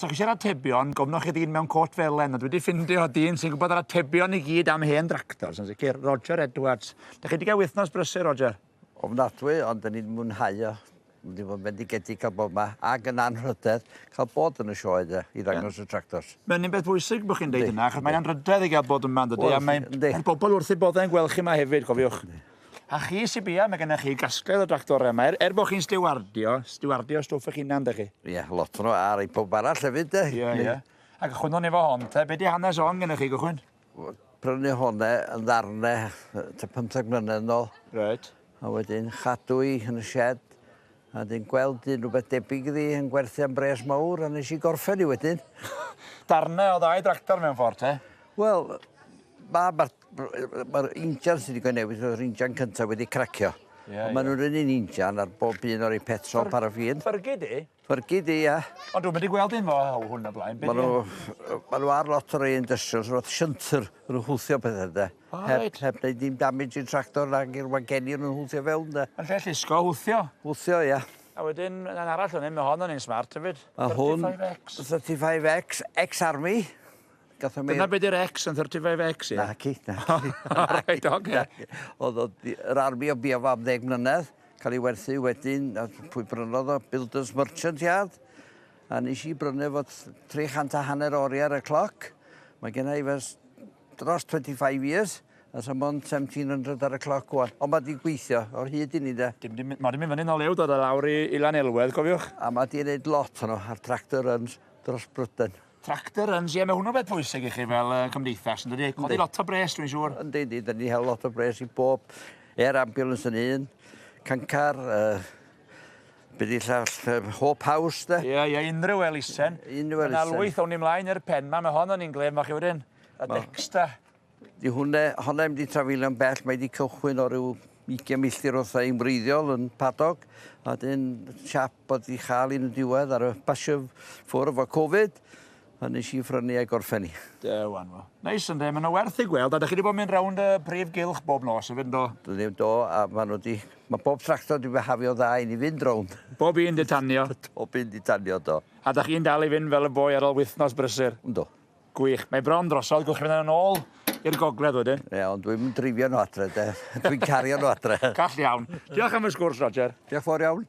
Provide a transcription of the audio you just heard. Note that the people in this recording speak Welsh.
Os ydych chi eisiau'r atebion, gofnwch chi ddyn mewn côt felen, ond wedi ffindio dyn sy'n gwybod yr atebion i gyd am hen dractors, yn sicr, Roger Edwards. Dych chi wedi cael wythnos brysur, Roger? Ofnadwy, ond dyn ni'n mwynhau o. Dyn ni'n fod bendigedig cael bod yma, ac yn anrhydedd cael bod yn y sioe de, i ddangos y tractors. Mae'n un beth bwysig bod chi'n dweud yna, achos mae'n anrhydedd i gael bod yma, yn dydy, a mae'n pobl wrth eu boddau yn gweld chi yma hefyd, cofiwch. A chi, Sibia, mae gennych chi gasgled o dractorau yma. Er, er bod chi'n stiwardio, stiwardio stwff eich hunan, dych chi? Ie, yeah, lot nhw, a rhai pob arall hefyd, de. Ie, yeah, ie. Yeah. Ac chwynwn efo hon, te. Be di hanes hon gennych chi, gychwyn? Prynu hone yn ddarne, te 15 mlynedd nôl. Right. A wedyn chadw i yn y shed, a wedyn gweld un rhywbeth debyg iddi yn gwerthu am bres mawr, a nes i gorffen i wedyn. darne o ddau dractor mewn ffordd, te? Wel, mae ma Mae'r injan sydd wedi newid yw'r injan cyntaf wedi cracio. Yeah, Ond maen nhw'n rhywun un injan ar bob un o'r ei petrol Fyr, paraffin. Ffyrgu di? Ffyrgu di, ia. Ond dwi'n mynd i gweld un fo haw hwn o blaen. Maen nhw, ma nhw ar lot o'r ei industrials, roedd siyntyr yn hwthio pethau, de. Oh, heb, right. heb wneud dim damage i'r tractor nag i'r wageni yn hwthio fewn, de. Yn lle llusgo, hwthio? Hwthio, ia. A wedyn, yn arall o'n un, mae hon o'n un smart hefyd. Mae hwn, 35X, ex-army. Gatho Dyna be di'r X yn 35X, ie? Naci, naci. O, reit, oce. Oedd o di- yr army o bia fo am ddeg mlynedd, cael ei werthu wedyn, a pwy brynodd o? Builders Merchant Yard. A nes i brynu fo t- 300 a hanner o oriau ar y cloc. Mae genna i fes dros 25 years, a sa mond 1700 ar y cloc wan. Ond mae di gweithio o'r hyd i ni de. Dim di, mae di mynd fyny nol ew dod o lawr i, i Lanelwedd, cofiwch. A mae di wneud lot hwnnw ar tractor runs dros Bryden. Tractor runs, ie, mae hwnnw'n beth pwysig i chi fel uh, cymdeithas, yn dydi? Codi lot o bres, dwi'n siŵr. Yn dydi, da ni hel lot o bres i bob air ambulance yn un, cancar, uh, bydd i llall uh, hope house, da. Ie, yeah, ie, yeah, unrhyw elisen. Unrhyw elisen. Yna lwyth o'n i mlaen i'r pen ma, mae hon yn un glef, mae chi wedyn. A ma... Dexta. Di hwnna, honna ddim wedi trafeilio'n bell, mae wedi cychwyn o ryw 20 milltir wrtha i'n wreiddiol yn Padog, a dyn siap bod wedi chael un yn diwedd ar y basio ffwrdd efo Covid, a nes i ffrynu a'i gorffen hi. Da wan fo. Neis ynde, mae yna werth ei gweld, a dych chi wedi bod yn mynd rownd y prif gylch bob nos hefyd yndo? Dwi ddim do, a maen nhw wedi... Mae bob tractor wedi behafio dda i ni fynd rownd. Bob un di tanio? Bob un di tanio, do. A dych chi'n dal i fynd fel y boi ar ôl wythnos brysur? Yndw. Gwych. Mae bron drosodd, gwnewch chi fynd â nhw nôl i'r gogledd wedyn. Ie, ond dwi'm yn dreifio nhw adre de. Dwi'n cario nhw adre. Call iawn. Diolch am y sgwrs, Roger. Diolch fawr iawn.